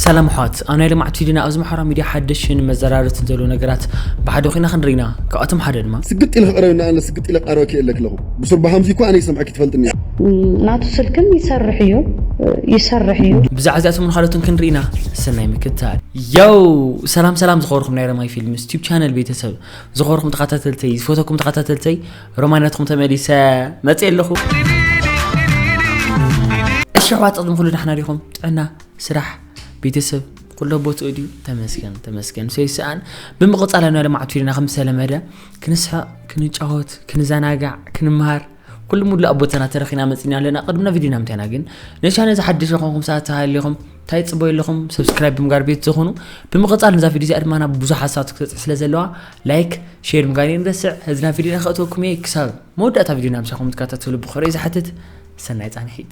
ሰላም ኣሕዋት ኣብ ናይ ልምዓት ቪድዮና ኣብዚ ማሕበራዊ ሚድያ ሓደሽን መዘራረትን ዘለዉ ነገራት ብሓደ ኮይና ክንርኢ ኢና ካብኣቶም ሓደ ድማ ስግጥ ኢለ ክቐረብ እንዳ ኣለ ስግጥ ኢለ ክቐረበኪ የለ ክለኹ ብሱር ብሃምዚ እኳ ኣነ ይሰምዐኪ ትፈልጥኒ እያ ናቱ ስልክን ይሰርሕ እዩ ይሰርሕ እዩ ብዛዕባ እዚኣቶምን ካልኦትን ክንርኢ ኢና ሰናይ ምክትታል ዮው ሰላም ሰላም ዝኸበርኩም ናይ ረማይ ፊልምስ ቲዩብ ቻነል ቤተሰብ ዝኸበርኩም ተኸታተልተይ ዝፈተኩም ተኸታተልተይ ሮማናትኩም ተመሊሰ መፅእ ኣለኹ እሺ ኣሕዋት ቅድሚ ኩሉ ዳሕና ዲኹም ጥዕና ስራሕ ቤተሰብ ኩሎ ቦትኡ ድዩ ተመስገን ተመስገን ሰይስኣን ብምቕፃል ኣብና ልምዓት ፊልና ከም ዝተለመደ ክንስሕቕ ክንጫወት ክንዘናጋዕ ክንምሃር ኩሉ ሙሉእ ኣብ ቦታና ተረኺና መፅና ኣለና ቅድምና ቪድዮና ምንታይና ግን ነቻነ ዝሓደሽ ይኾንኩም ሰዓት ተሃሊኹም እንታይ ፅበዩ ኣለኹም ሰብስክራይብ ብምጋር ቤት ዝኾኑ ብምቕፃል ነዛ ቪድዮ እዚኣ ድማ ናብ ብዙሕ ሓሳባት ክትበፅሕ ስለ ዘለዋ ላይክ ሼር ምጋር ንረስዕ ህዝና ቪድዮና ክእተወኩም እየ ክሳብ መወዳእታ ቪድዮና ምሳኹም ትከታተሉ ብክብሪ ዝሓትት ሰናይ ፃንሒት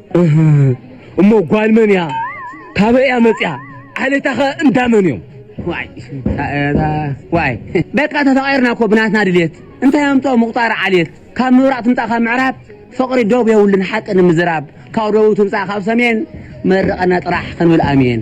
እሞ ጓል መን እያ ካበይ እያ መፅያ ዓሌታ ከ እንዳመን እዮም ዋይ ዋይ በቃ ተፈቂርና እኮ ብናትና ድሌት እንታይ ኣምጦ ምቁጣር ዓሌት ካብ ምብራቅ ትምፃእ ካብ ምዕራብ ፍቅሪ ዶብ የብሉን ሓቂ ንምዝራብ ካብ ደቡብ ትምፃእ ካብ ሰሜን መርቀና ጥራሕ ክንብል ኣሜን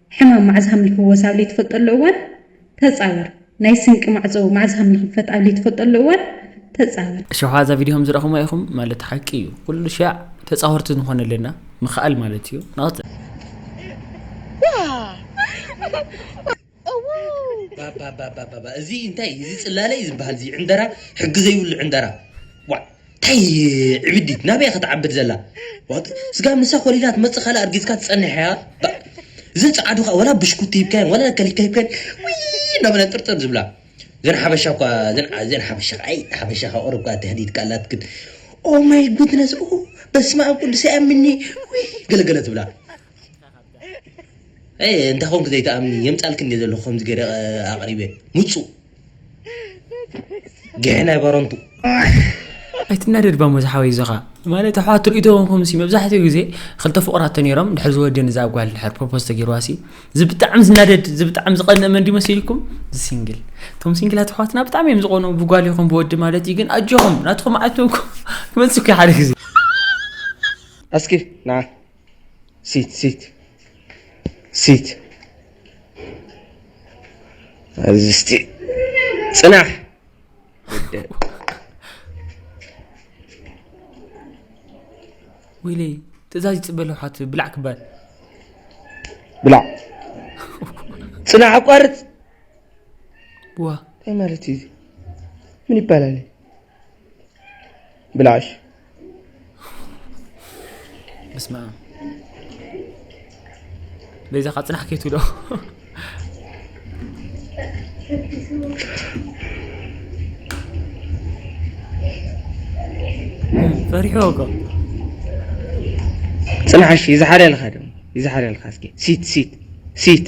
ሕማም ማዕዝ ሃም ንፍወስ ኣብ ልይትፈልጠሉ እዋን ተጻወር ናይ ስንቂ ማዕጾ ማዕዝ ሃም ንክፈት ኣብ ልይትፈልጠሉ እዋን ተጻወር። እሺ ሓዛ ቪድዮ ከም ዝረኣኹማ ኢኹም ማለት ሓቂ እዩ ኩሉ ሻዕ ተጻወርቲ ንኾን ኣለና ምኽኣል ማለት እዩ ናት ባባባባባ እዚ እንታይ እዚ ጽላለ እዩ ዝበሃል እዚ ዕንደራ ሕጊ ዘይብሉ ዕንደራ ዋእ ታይ ዕብዲት ናበያ ክትዓብድ ዘላ ዋጥ ስጋብ ንሳ ኮሊላ ትመጽእ ካልእ ኣርጊዝካ ትጸንሕ እያ ባእ እዘን ጸዓዱ ከኣ ወላ ብሽኩቲ ሂብካየን ወላ ከሊካ ሂብካየን ውይ እንዳበለን ጥርጥር ዝብላ እዘን ሓበሻ እኳ እዘን እዘን ሓበሻ ከኣ ኣይ ሓበሻ ካብ ቁሩብ ከኣ ትህዲድ ከኣ ኣላትክን ኦ ማይ ጉድነስ ኦ በስመ ኣብ ቅዱስ ኣይኣምኒ ውይ ገለገለ ትብላ ኣይ እንታይ ኮንክ ዘይትኣምኒ የምጻልክን እየ ዘለኹ ከምዚ ገይረ ኣቕሪበ ምጹእ ጊሐ ናይ ባረንቱ። ኣይትናደድ ባሞ ዝሓወይ ዝኻ ማለት ኣሕዋት ርእቶ ኮንኩም ሲ መብዛሕትኡ ግዜ ክልተ ፍቑራት ተነይሮም ድሕር ዝወዲ ንዛ ጓል ድሕር ፕሮፖዝ ተገይርዋ ሲ እዚ ብጣዕሚ ዝናደድ እዚ ብጣዕሚ ዝቐንእ መን ድዩ መሲልኩም እዚ ሲንግል እቶም ሲንግላት ኣሕዋትና ብጣዕሚ እዮም ዝቐኑ ብጓል ይኹን ብወዲ ማለት እዩ ግን ኣጆኹም ናትኩም መዓልቲ ክመጽእ ሓደ ግዜ እስኪ ና ሲት ሲት ሲት ኣብዚ እስቲ ፅናሕ ወይለይ ትእዛዝ ይፅበ ኣለኹ ሓቱ ብላዕ ክባል ብላዕ ፅናሕ ኣቋርፅ ዋ እንታይ ማለት እዩ ምን ይባላል ብላሽ ብስማ በይዛኻ ፅናሕ ከይትብሎ ፈሪሑ እኮ ፅናሕ እሺ ይዝሓለልካ ድማ ይዝሓለልካ እስኪ ሲት ሲት ሲት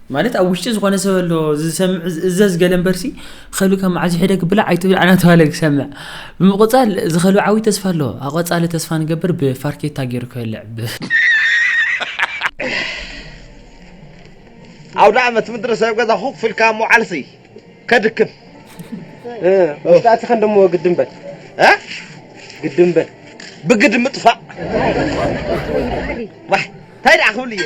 ማለት ኣብ ውሽጢ ዝኾነ ሰብ ኣሎ ዝሰምዕ ዝእዘዝ ገለ እምበርሲ ኸሉ ካብ መዓዝ ሕደ ክብላ ኣይትብላ እናተባሃለ ክሰምዕ ብምቁፃል ዝኸሉ ዓብዪ ተስፋ ኣሎ ኣቆፃሊ ተስፋ ንገብር ብፋርኬታ ገይሩ ክበልዕ ዓውደ ዓመት ምድሪ ሰብ ገዛ ኹፍ ኢልካ ምውዓልሲ ከድክም ውሽጣቲ ከንደሞ ግድም በል ግድም በል ብግድ ምጥፋእ እንታይ ደኣ ክብል እየ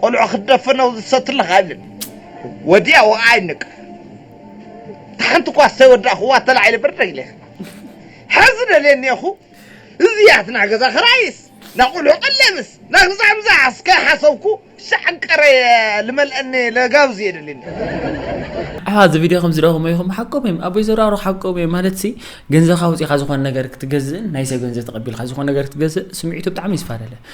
ቆልዑ ክትደፍነው ዝሰትለኻ ይብል ወዲያ ወኣ ይንቅ ታሓንቲ እኳ ዝተወዳእኽዋ ተላዒለ ብርደግ ኢለ ሕዚ ደልየ እኒኤኹ እዚያት ናይ ገዛ ክራይስ ናይ ቆልዑ ቀለብስ ናይ ግዛምዛ እስከ ሓሰብኩ ሻዕቀረ ልመልአኒ ለጋብዝ እየ ደልኒ ኣሓ እዚ ቪድዮ ከም ዝደኹሞ ኢኹም ሓቆም እዮም ኣቦይ ዘራሩ ሓቆም እዮም ማለት ሲ ገንዘብካ ውፅኢካ ዝኾነ ነገር ክትገዝእን ናይ ሰብ ገንዘብ ተቐቢልካ ዝኾነ ነገር ክትገዝእ ስምዒቱ ብጣዕሚ ይስፋደለ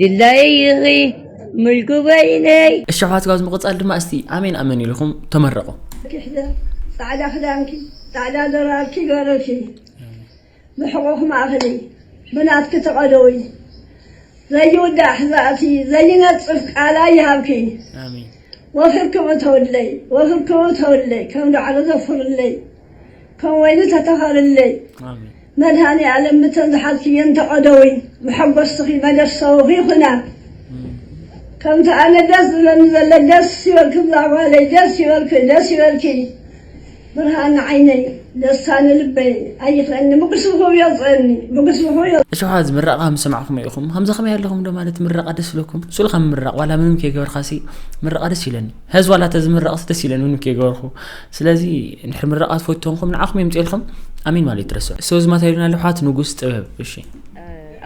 ድላይኺ ምልኩበይ ነይ እሺ ኣሕዋት ካብዚ ምቅጻል ድማ እስቲ ኣሜን ኣሜን ኢልኹም ተመረቁ። ክሕደ ጻዕዳ ክዳንኪ ጻዕዳ ድራርኪ ገርኪ ብሕቁኪ ማእክሊ ብናትኪ ተቀደዊ ዘይውዳእ ሕዛእቲ ዘይነጽፍ ቃላይ ይሃብኪ ወፍርኪ እተውለይ ወፍርኪ እተውለይ ከም ዳዕሮ ዘፍርለይ ከምወይኒ ተተኸልለይ ኣሜን መድሃኒኣለም ብተን ዝሓዝክየን ተቀደዊ መሐጎስትኺ መደሰውኺ ይኹና ከምቲ ኣነ ደስ ዝብለኒ ዘለ ደስ ይበልክም ዛጓለይ ደስ ይበልክ ደስ ይበልኪ ብርሃን ንዓይነይ ደስታ ንልበይ ኣይኽለኒ ምጉስብኹ የውፅእኒ ምጉስብኹ እሺ ሓዝ ምረቃ ምስ ሰማዕኩም ኢኹም ከምዚ ከመይ ኣለኹም ዶ ማለት ምረቃ ደስ ዝለኩም ስኡልካ ምምራቅ ዋላ ምንም ከይገበርካሲ ምረቃ ደስ ይለኒ ሐዚ ዋላ ተዝምረቅሲ ደስ ኢለኒ ውን ከይገበርኩ ስለዚ እንድሕር ምረቃ ትፈትው ተንኩም ንዓኩም የምፅኤልኩም ኣሜን ማለት ኣይትረስዑ ሰው ዝማታ ይሉና ኣለዉ ኣሕዋት ንጉስ ጥበብ እሺ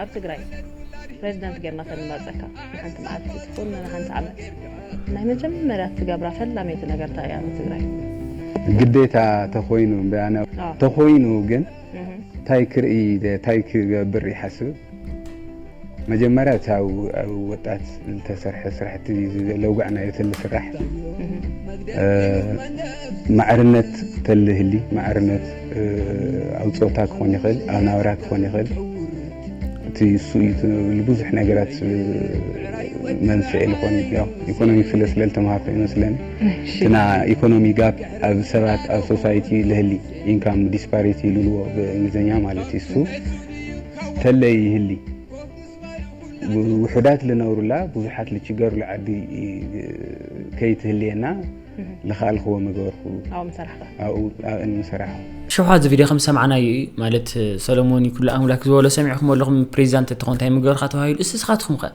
ኣብ ትግራይ ፕሬዚዳንት ጌርና ከንመርፀካ ንሓንቲ መዓልቲ ትኹን ንሓንቲ ዓመት ናይ መጀመርያ ትገብራ ፈላመይቲ ነገርታ እያ ንትግራይ ግዴታ ተኾይኑ እምበኣና ተኾይኑ ግን ታይ ክርኢ ታይ ክገብር ይሓስብ መጀመርያ እቲ ኣብ ወጣት ዝተሰርሐ ስራሕቲ ለውጋዕ ናይ ተሊ ስራሕ ማዕርነት ተሊ ህሊ ማዕርነት ኣብ ፆታ ክኾን ይኽእል ኣብ ናብራ ክኾን ይኽእል እቲ እሱ እዩ ብዙሕ ነገራት መንስኤ ዝኾን ያው ኢኮኖሚ ስለ ስለልተምሃርኩ ይመስለኒ እና ኢኮኖሚ ጋፕ ኣብ ሰባት ኣብ ሶሳይቲ ልህሊ ኢንካም ዲስፓሪቲ ይልዎ ብእንግሊዝኛ ማለት እዩ። እሱ ተለይ ይህሊ ውሑዳት ልነብሩላ ብዙሓት ልችገሩላ ዓዲ ከይትህልየና ልኸኣልክዎ ምገበርኩ ኣብኡ እንሰራሕ ሸውሓ እዚ ቪድዮ ከም ሰማዕናዮ እዩ ማለት ሰለሞን ይኩሉ ኣምላክ ዝበሎ ሰሚዕኩም ኣለኹም ፕሬዚዳንት እትኾን እንታይ ምገበርካ ተባሂሉ እስ ስኻትኩም ከ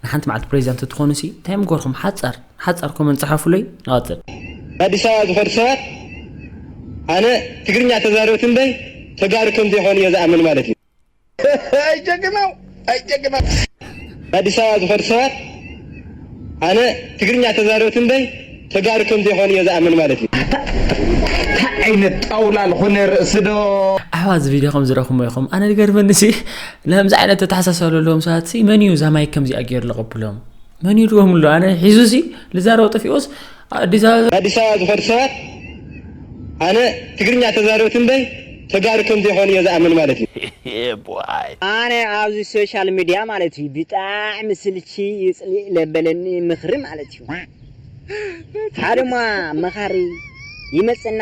ንሓንቲ መዓልቲ ፕሬዚዳንት እትኾኑ ሲ እንታይ ምገበርኩም ሓፃር ሓጻር ኮመንት ጽሓፉለይ ንቀጽል። ኣዲስ ኣበባ ዝኸዱ ሰባት ኣነ ትግርኛ ተዛረብቲ እምበይ ተጋሩ ከም ዘይኮኑ እየ ዝኣምን ማለት እዩ። ኣይ ጀግናው ኣይ ጀግናው። ኣዲስ ኣበባ ዝኸዱ ሰባት ኣነ ትግርኛ ተዛረብቲ እምበይ ተጋሩ ከም ዘይኮኑ እየ ዝኣምን ማለት እዩ። ኣታ ታይ ዓይነት ጣውላ ልኾነ ርእሲ ዶ። ኣሕዋት እዚ ቪድዮ ከም ዝረኽሞ ኢኹም ኣነ ዝገርመኒ ሲ ንከምዚ ዓይነት ተተሓሳሰብ ዘለዎም ሰባት ሲ መን እዩ እዛ ማይክ ከምዚኣ ገይሩ ዝቐብሎም መን እዩ ድዎም ኣሎ ኣነ ሒዙ ሲ ልዛረብ ጠፊኦስ ኣዲስ ኣበባ ኣዲስ ኣበባ ዝኸዱ ሰባት ኣነ ትግርኛ ተዛረብቲ እምበይ ተጋሩ ከም ዘይኮኑ እየ ዝኣምን ማለት እዩ። ኣነ ኣብዚ ሶሻል ምድያ ማለት እዩ ብጣዕሚ ስልቺ ይጽሊእ ለበለኒ ምኽሪ ማለት እዩ ሓደ እማ መኻሪ ይመጽእና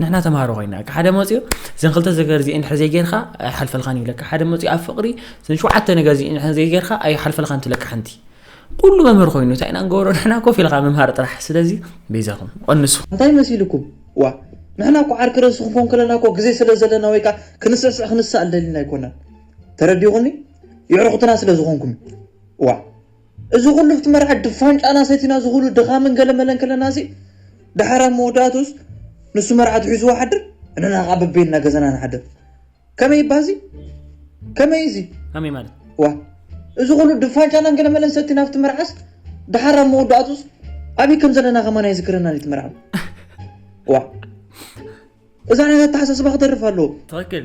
ንሕና ተማሃሮ ኮይና ሓደ መፅኡ ዘን ክልተ ዘገር እዚኤን ድሕሪ ዘይጌርካ ኣይሓልፈልካን ይብለካ ሓደ መፅኡ ኣብ ፍቅሪ ዘን ሸውዓተ ነገር እዚኤን ድሕሪ ዘይጌርካ ኣይሓልፈልካን ትብለካ ሓንቲ ኩሉ መምህር ኮይኑ እንታይ ኢና ንገብሮ ንሕና ኮፍ ኢልካ ምምሃር ጥራሕ ስለዚ በይዛኹም ቀንሱ እንታይ መሲልኩም ዋ ንሕና እኮ ዓርኪ ርእሲ ክንኮን ከለና እኮ ግዜ ስለ ዘለና ወይ ከዓ ክንስዕስዕ ክንሰኣል ደሊና ኣይኮናን ተረዲኹኒ ይዕርኹትና ስለ ዝኾንኩም ዋ እዚ ኩሉ ኣብቲ መርዓ ድፋን ጨና ሰቲና እዚ ኩሉ ድኻምን ገለመለን ከለናሲ ደሓር ኣብ መወዳእትኡስ ንሱ መርዓቱ ሒዝዋ ሓድር ንሕና ከኣ በበይንና ገዛና ንሓድር ከመይ እባ እዚ ከመይ እዚ ከመይ ማለት ዋእ እዚ ኩሉ ድፋን ጨናን ገለመለን ሰቲና ኣብቲ መርዓስ ደሓር ኣብ መወዳእትኡስ ኣበይ ከም ዘለና ከማን ኣይዝክረናን እቲ መርዓ ዋእ እዛ ዓይነት ኣተሓሳስባ ክተርፍ ኣለዎ ትክክል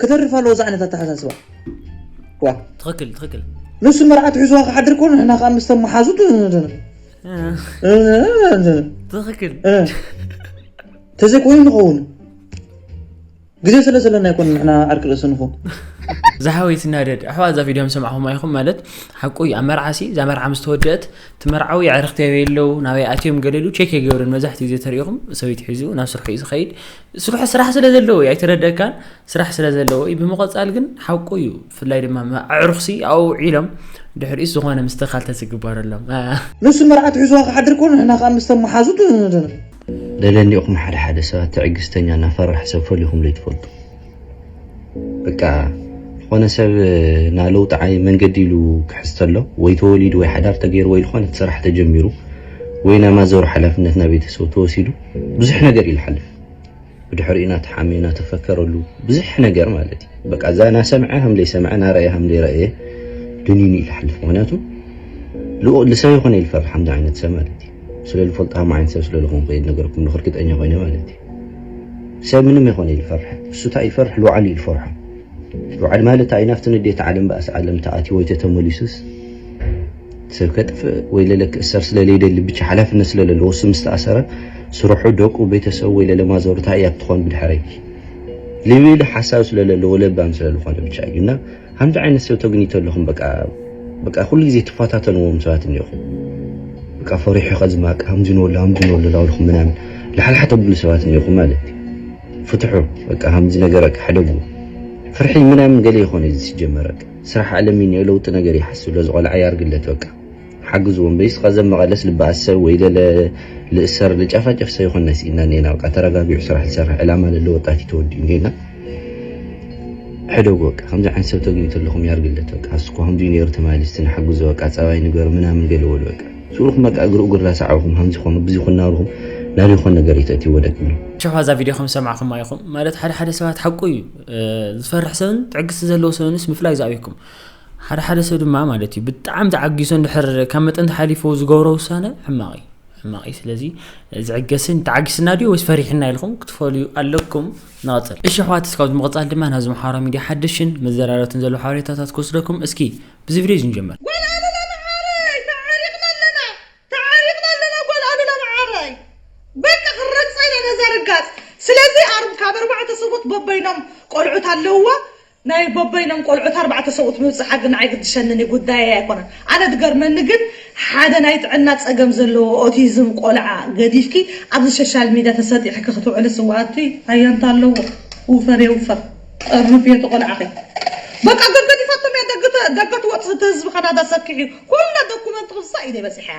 ክተርፍ ኣለዎ እዛ ዓይነት ኣተሓሳስባ ዋ ትክክል ትክክል ንሱ መርዓት ሒዝዋ ክሓድር ኮ ንሕና ከዓ ምስ ተመሓዙት ትክክል ተዘይኮይኑ ንኸውን ግዜ ስለ ዘለና ይኮን ንሕና ዓርኪ ርእሲ ንኹን ዝሓወይ ትናደድ ኣሕዋ እዛ ቪድዮ ምስ ሰማዕኹም ኣይኹም ማለት ሓቁ እዩ ኣብ መርዓሲ እዛ መርዓ ምስ ተወደአት እቲ መርዓዊ ኣዕርኽቲ ኣበይ ኣለዉ ናበይ ኣትዮም ገለሉ ቼክ የገብርን መብዛሕትኡ ግዜ ተሪኢኹም ሰበይቲ ሒዙ ናብ ስርሑ እዩ ዝኸይድ ስርሑ ስራሕ ስለ ዘለዎ እዩ ኣይተረደካን ስራሕ ስለ ዘለዎ እዩ ብምቐፃል ግን ሓቁ እዩ ብፍላይ ድማ ኣዕሩኽሲ ኣብኡ ውዒሎም ድሕሪኡስ ዝኾነ ምስተኻል ተዝግበረሎም ንሱ መርዓት ሒዝዋ ክሓድር ኮኑ ንሕና ከዓ ምስተን መሓዙ ደለኒ ኢኹም ሓደ ሓደ ሰባት ትዕግስተኛ እና ፈራሕ ሰብ ፈሊኹምለይ ትፈልጡ በቃ ዝኾነ ሰብ ናለውጢ ዓይ መንገዲ ኢሉ ክሕዝ ተሎ ወይ ተወሊዱ ወይ ሓዳር ተገይሩ ወይ ዝኾነት ስራሕ ተጀሚሩ ወይ ናይ ማዘሩ ሓላፍነት ናይ ቤተሰቡ ተወሲዱ ብዙሕ ነገር እዩ ዝሓልፍ ብድሕሪኡ ናተሓመ ናተፈከረሉ ብዙሕ ነገር ማለት እዩ በቃ እዛ ናሰምዐ ከም ዘይሰምዐ ናረእየ ከም ዘይረእየ ድኒኑ እዩ ዝሓልፍ ምክንያቱ ልሰብ ይኮነ ይልፈር ሓምዚ ዓይነት ሰብ ማለት እዩ ስለ ዝፈልጦ ከም ዓይነት ሰብ ስለ ዝኾንኩ እየ ነገርኩም ንክርግጠኛ ኮይነ ማለት እዩ ሰብ ምንም ኣይኮነ ኢሉ ፈርሐ እሱ እንታይ እዩ ዝፈርሕ ልውዓል እዩ ዝፈርሖ ልውዓል ማለት እንታይ እዩ ናብቲ ንዴት ዓለም ባእሲ ዓለም ተኣትዩ ወይ ተተመሊሱስ ሰብ ከጥፍእ ወይ ለለ ክእሰር ስለለይደሊ ብቻ ሓላፍነት ስለለለዎ እሱ ምስ ተኣሰረ ስርሑ ደቁ ቤተሰቡ ወይ ለለ ማዘሩ እንታይ እያ ክትኾን ብድሕረይ ልብል ሓሳብ ስለለለዎ ለባም ስለዝኾነ ብቻ እዩ እና ሓንቲ ዓይነት ሰብ ተግኒቶ ኣለኹም በቃ በቃ ኩሉ ግዜ ትፈታተንዎም ሰባት እንዲኹም በቃ ፈሪሑ ከዝማቅ ሃምዝንወሉ ሃምዝንወሉ ላውልኹም ምናምን ላሕላሕ ተብሉ ሰባት እንዲኹም ማለት ፍትሑ በቃ ሃምዚ ነገር በቃ ሕደጉ ፍርሒ ምናምን ገለ ይኾነ እዚ ሲጀመር በቃ ስራሕ ዓለም እዩ ለውጢ ነገር ይሓስብ ለዝቆልዓ ያርግለት በቃ ሓግዝዎ እምበይስ ቐዘብ መቐለስ ልበኣሰ ወይ ለለ ልእሰር ልጨፋጨፍ ሰ ይኾን ናይስ ኢድና እኔና በቃ ተረጋጊዑ ስራሕ ልሰርሕ ዕላማ ለለ ወጣት እዩ ተወዲኡ እንጌና ሕደጉ በቃ ከምዚ ዓይነት ሰብ ተግኙ ተለኹም ያርግለት በቃ ኣስኮ ከምዚ ነይሩ ተማሊስ እስቲ ንሓግዞ በቃ ጸባይ ንገሩ ምናምን ገለ በሉ በቃ ስኡልኩም በቃ እግሪ እግሩ ላሰዓብኹም ከምዚ ኮኑ ብዚ ኮኑ ናብልኹም ናበይ ኮን ነገር እዩ ተእትይዎ ደቂ ምን ሸፋ እዛ ቪድዮ ከም ዝሰማዕኩማ ኢኹም ማለት ሓደ ሓደ ሰባት ሓቁ እዩ ዝፈርሕ ሰብን ትዕግስቲ ዘለዎ ሰብንስ ምፍላይ ዝኣብየኩም ሓደ ሓደ ሰብ ድማ ማለት እዩ ብጣዕሚ ተዓጊሶ እንድሕር ካብ መጠን ተሓሊፎ ዝገብሮ ውሳነ ሕማቕ እዩ ሕማቕ እዩ ስለዚ ዝዕገስን ተዓጊስና ድዩ ወይስ ፈሪሕና ኢልኩም ክትፈልዩ ኣለኩም ንቐፅል እሺ ኣሕዋት እስካብ ዝምቕፃል ድማ ናብዚ ምሓራ ሚድያ ሓደሽን መዘራረብትን ዘለዉ ሓበሬታታት ክወስደኩም እስኪ ብዚ ቪድዮ እዚ ንጀምር ጓል ኣሉላ መዓረይ ተዓሪቕና ኣለና ተዓሪቕና ኣለና ጓል ኣሉላ መዓረይ በቃ ክንረግፃ ኢና ነዛ ርጋፅ ስለዚ ካብ ኣርባዕተ ሰብኡት በበይኖም ቆልዑት ኣለውዋ ናይ በበይኖም ቆልዑት ኣርባዕተ ሰብኡት ምብጽሓ ግን ኣይግድሸንን እዩ ጉዳየይ ኣይኮነን ኣነ ድገርመኒ ግን ሓደ ናይ ጥዕና ጸገም ዘለዎ ኦቲዝም ቆልዓ ገዲፍኪ ኣብዚ ሸሻል ሚድያ ተሰጢሕኪ ክትውዕልስ እወ ኣቱይ ኣያንታ ኣለዎ ውፈር የውፈር ጠርንፍዮ እቲ ቆልዓኺ በቃ ገገዲፋቶም እያ ደገ ትወጽእ እቲ ህዝቢ ካናዳ ሰኪሕዩ ኩላ ደኩመንት ክፍሳ ኢደይ በጺሓያ።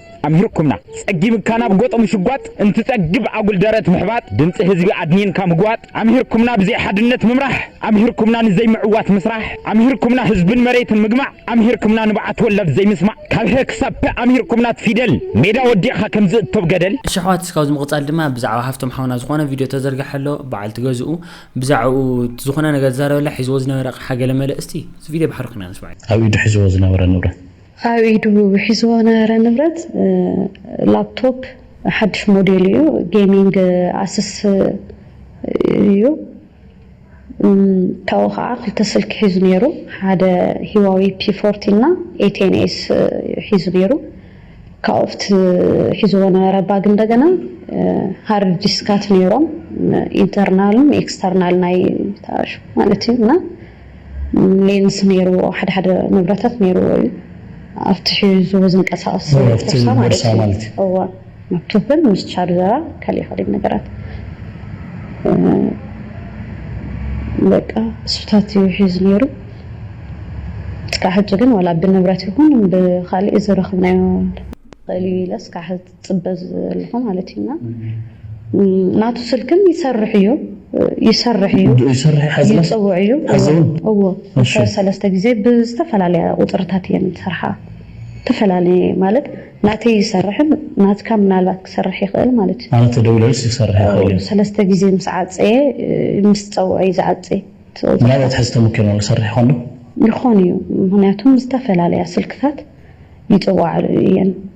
ኣምሂርኩምና ጸጊምካ ናብ ጎጥ ምሽጓጥ እንትጸግብ ኣጉል ደረት ምሕባጥ ድምጺ ህዝቢ ኣድኒንካ ምግዋጥ ኣምሂርኩምና ብዘይ ሓድነት ምምራሕ ኣምሂርኩምና ንዘይ ምዕዋት ምስራሕ ኣምሂርኩምና ህዝብን መሬትን ምግማዕ ኣምሂርኩምና ንብዓት ወላድ ዘይምስማዕ ካብ ሀ ክሳብ ፐ ኣምሂርኩምና ት ፊደል ሜዳ ወዲቕካ ከም ዝእቶ ብ ገደል። እሺ ኣሕዋት ካብዚ ምቅጻል ድማ ብዛዕባ ሃፍቶም ሓውና ዝኮነ ቪድዮ ተዘርጊሐ ኣሎ በዓልቲ ገዝኡ ብዛዕብኡ ዝኮነ ነገር ዝዛረበላ ሒዝዎ ዝነበረ ኣቅሓ ገለ መለ እስቲ እዚ ቪድዮ ብሓደ ኮይና ንስምዐዮ። ኣብ ኢዱ ሒዝዎ ዝነበረ ንብረት ኣብ ኢዱ ሒዝዎ ዝነበረ ንብረት ላፕቶፕ ሓድሽ ሞዴል እዩ። ጌሚንግ ኣስስ እዩ። ካብኡ ከዓ ክልተ ስልኪ ሒዙ ነይሩ። ሓደ ሂዋዊ ፒ ፎርቲ እና ኤ ቴን ኤስ እዩ ሒዙ ነይሩ። ካብኡ ኣብቲ ሒዝዎ ዝነበረ ባግ እንደገና ሃርድ ዲስካት ነይሮም። ኢንተርናልን ኤክስተርናል ናይ ተኣሽ ማለት እዩ እና ሌንስ ነይርዎ ሓደ ሓደ ንብረታት ነይርዎ እዩ ኣብቲ ሒዝዎ ዝንቀሳቀስ ቦርሳ ማለት እዩ እወ ላፕቶፕን ምስ ቻርጀራ ካሊእ ካሊእ ነገራት በቃ እሱታት እዩ ሒዙ ነይሩ እስካብ ሕጂ ግን ዋላ ብንብረት ይኹን ብካሊእ ዝረኽብናዮ ይኽእል እዩ ኢለ እስካብ ሕጂ ጽበ ዘለኹ ማለት እዩ እና ናቱ ስልክን ይሰርሕ እዩ ይሰርሕ እዩ ይፅውዕ እዩ እዎ ሰለስተ ግዜ ብዝተፈላለየ ቁፅርታት እየን ዝሰርሓ ተፈላለየ ማለት ናተይ ይሰርሕን ናትካ ምናልባት ክሰርሕ ይኽእል ማለት እዩ ማለት ተደውለልስ ይሰርሕ ይኽእል እዩ ሰለስተ ግዜ ምስ ዓፀየ ምስ ፀውዐ እዩ ዝዓፅይ ምናልባት ሕዚ ተመኪርና ዝሰርሕ ይኾን ዶ ይኾን እዩ ምክንያቱም ዝተፈላለያ ስልክታት ይፅዋዕ እየን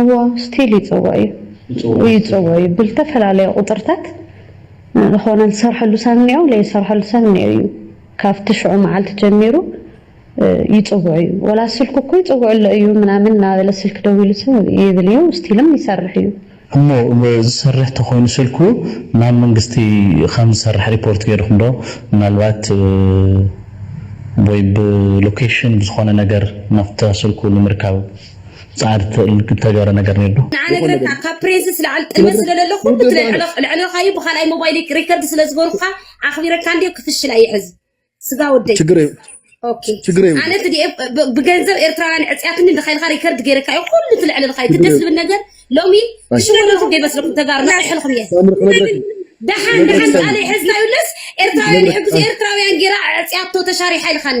እወ ስቲል ይጽወ እዩ ይጽወ እዩ ብልተፈላለየ ቁጽርታት ልኾነ ልሰርሐሉ ሰብ እኒኦ ለይሰርሐሉ ሰብ እኒኦ እዩ ካፍቲ ሽዑ መዓልቲ ጀሚሩ ይጽውዕ እዩ ወላ ስልኩ እኮ ይጽውዕ ኣሎ እዩ ምናምን እናበለ ስልኪ ደዊሉ ሰብ ይብል እዩ ስቲልም ይሰርሕ እዩ። እሞ ዝሰርሕ ተኾይኑ ስልኩ ናብ መንግስቲ ኻም ዝሰርሕ ሪፖርት ገይርኹም ዶ ምናልባት ወይ ብሎኬሽን ብዝኾነ ነገር ናፍታ ስልኩ ንምርካብ? ጻዕሪ ተገብረ ነገር ነይሩ ንዓ ነግረካ ካብ ፕሬስ ዝለዓል ጥልመት ስለለለ ኩሉ እቲ ለዕለኻዩ ብካልኣይ ሞባይል ሪከርድ ስለዝበሩካ ኣኽቢረካ እንዲዮ ክፍሽል ኣይሕዝ ስጋ ወደይ ኣነ ብገንዘብ ኤርትራውያን ዕፅያትኒ ድካይልካ ሪከርድ ገይረካ እዩ ኩሉ ትልዕልልካ እዩ ደስ ዝብል ነገር ሎሚ ሽወለኹ ገይበስለኩም ተጋሩ ናሕልኹም እየ ደሓን ደሓን ቃለ ሕዝና ይብለስ ኤርትራውያን ይሕግዙ ኤርትራውያን ገይራ ዕፅያቶ ተሻሪሓ ኢልካኒ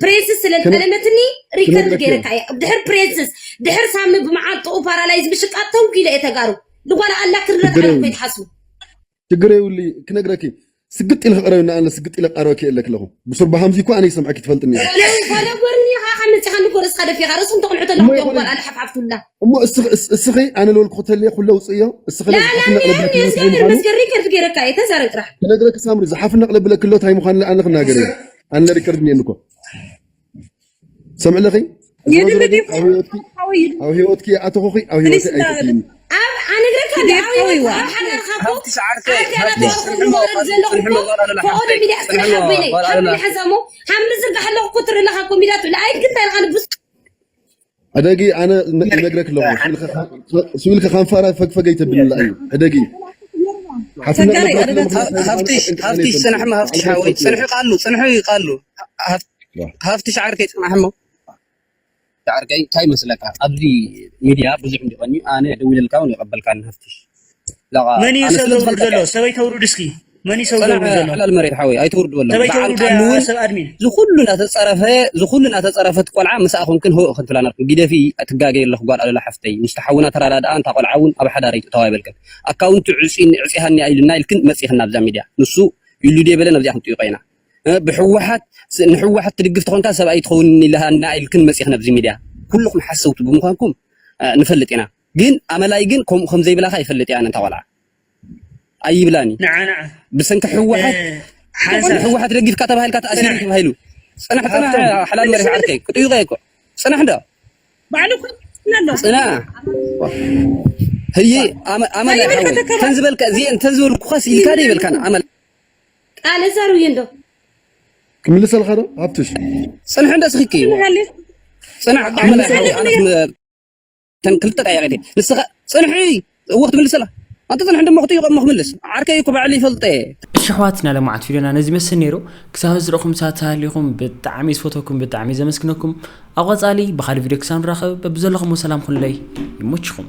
ፕሬዝስ ስለ ዝጠለመትኒ ሪከርድ ገይረካ እያ ድሕር ፕሬዝስ ድሕር ሳሚ ብመዓልጥኡ ፓራላይዝ ብሽቃት ተውጊለ እየ ተጋሩ ዝኾነ ኣላ ክርረት ሽግር ዓለም የብሉን ከይትሓስቡ ሽግር የብሉ ክነግረኪ ስግጥ ኢለ ክቐረብ ንኣለ ስግጥ ኢለ ቀረበኪ የለ ክለኹ ብሱር ብሃምዚ እኮ ኣነ ይሰምዐኪ ትፈልጥኒ እየ ጸለይ ኮነ ጎርኒ ኻኻ መጺኻ ንጎ ርእስኻ ደፊኻ ርእሱ እንተቕንሑ ተለኹ እሞ ዲኦም ይኾነ ጓል ኣለ ሓፍሓፍ ቱላ እሞ እስኺ- እስ- እስኺ ኣነ ልበልኩ ክተልየ ኩለ ውፅእዮ እስኺ ለዚ ላላ ሓፍና ቅለብለ ኒርኒ ክሎ ታይ እግዚኣብሔር ምዃኑ መስገን ሪከርድ ገይረካ እየ ተዛረብ ጥራሕ ክነግረኪ ሳምሪ ዝሓፍና ቅለብለ ክሎ ታይ ምዃኑ ለኣነ ክናገር እየ ኣነ ሪከርድ እኒኤኒ እኮ ሰምዕለኺ ኣብ ሂወትኪ ኣተኹኺ ኣብ ሂወት ኣይትእትይኒ ኣነግረካ ኣብሂወት ኣብ ሓዳርካ ኮ ፈቐዶ ሚድያ ስራሕ ኣቦይነይ ሓምሊ ሓንሳሞ ሓምሊ ዝርግሓ ኣለኹ ክትርኢ ኣለካ ኮ ሚድያ ትብለ ኣይትግንታ ኢልካ ንብስ ሕደጊ ኣነ ይነግረክ ኣለኹ ስብኢልካ ካን ፋራ ፈግፈገይ ተብልላ እዩ ሕደጊ ተጋሪ ኣደታት ሃፍትሽ ሃፍትሽ ፅንሕሞ ሃፍትሽ ሓወይ ፅንሑ ቃሉ ፅንሑ ቃሉ ሃፍትሽ ዓርከይ ፅናሕሞ ዓርከይ እንታይ መስለካ ኣብዚ ሚድያ ብዙሕ እንዲኾን ኣነ ደዊለልካ እውን ይቐበልካ ሃፍትሽ ለቓ መን እዩ ሰብ ዘውርድ ዘሎ ሰበይ ተውርድ እስኪ መን እዩ ሰብ ዘውርድ ዘሎ ሓላል መሬት ሓወይ ኣይተውርድዎ ኣለኹ ሰበይ ተውርድ እውን ሰብ ኣድሚን ዝኩሉ እናተፀረፈ ዝኩሉ እናተፀረፈት ቆልዓ ምሳኣ ኮንክን ህወእ ክንትብላ ነርኩ ጊደፊ ትጋገ ኣለኹ ጓል ኣለላ ሓፍተይ ምስቲ ሓውና ተረዳድኣ እንታ ቆልዓ እውን ኣብ ሓዳረይ ትእተዋ ይበልክን ኣካውንቲ ዕፅኒ ዕፅሃኒ ኢልና ኢልክን መፂእክን ናብዛ ሚድያ ንሱ ኢሉ ድየ በለ ናብዚኣ ክንጥይቆ ኢና ብሕወሓት ንሕወሓት ትድግፍ ተኾንካ ሰብኣይ ትኸውን ኢልሃና ኢልክን መፂእክ ናብዚ ሚድያ ኩልኩም ሓሰውቲ ብምኳንኩም ንፈልጥ ኢና ግን ኣመላይ ግን ከምኡ ከም ዘይብላካ ይፈልጥ እየ ኣነ እንታ ቆልዓ ኣይብላን እዩ ንዓ ንዓ ብሰንኪ ህወሓት ሓንሳብ ህወሓት ደጊፍካ ተባሂልካ ተኣሲሩ ተባሂሉ ፅናሕ ፅናሕ ሓላል መሪሕ ዓርከይ ክጥይቀ እኮ ፅናሕ እንዳ ባዕሉ ፅናሕ ህይ ኣመላ ተን ዝበልካ እዚአን ተን ዝበልኩኻስ ኢልካ ዶ ይበልካን ኣመላ ቃል እዛሩ እዩ እንዶ ክምልሰልካ ዶ ኣብትሽ ፅንሕ እንዳ ስኺኪ ፅናሕ ኣመላ እተን ክልተ ጠያቂ ድየ ንስኻ ፅንሒ ወቅት ምልሰላ ኣንተ ፅንሒ ድማ ክት ይቆም ክምልስ ዓርከይ እኮ ባዕል ይፈልጠ እሺ ኣሕዋትና ለማዓት ቪድዮና ነዚ መስል ነይሩ ክሳብ ዝረኹም ሳት ሃሊኹም ብጣዕሚ ዝፈተኩም ብጣዕሚ ዘመስግነኩም ኣብ ቐፃሊ ብኻሊ ቪድዮ ክሳብ ንራኸብ በብዘለኹሞ ሰላም ኩኑለይ ይሞችኹም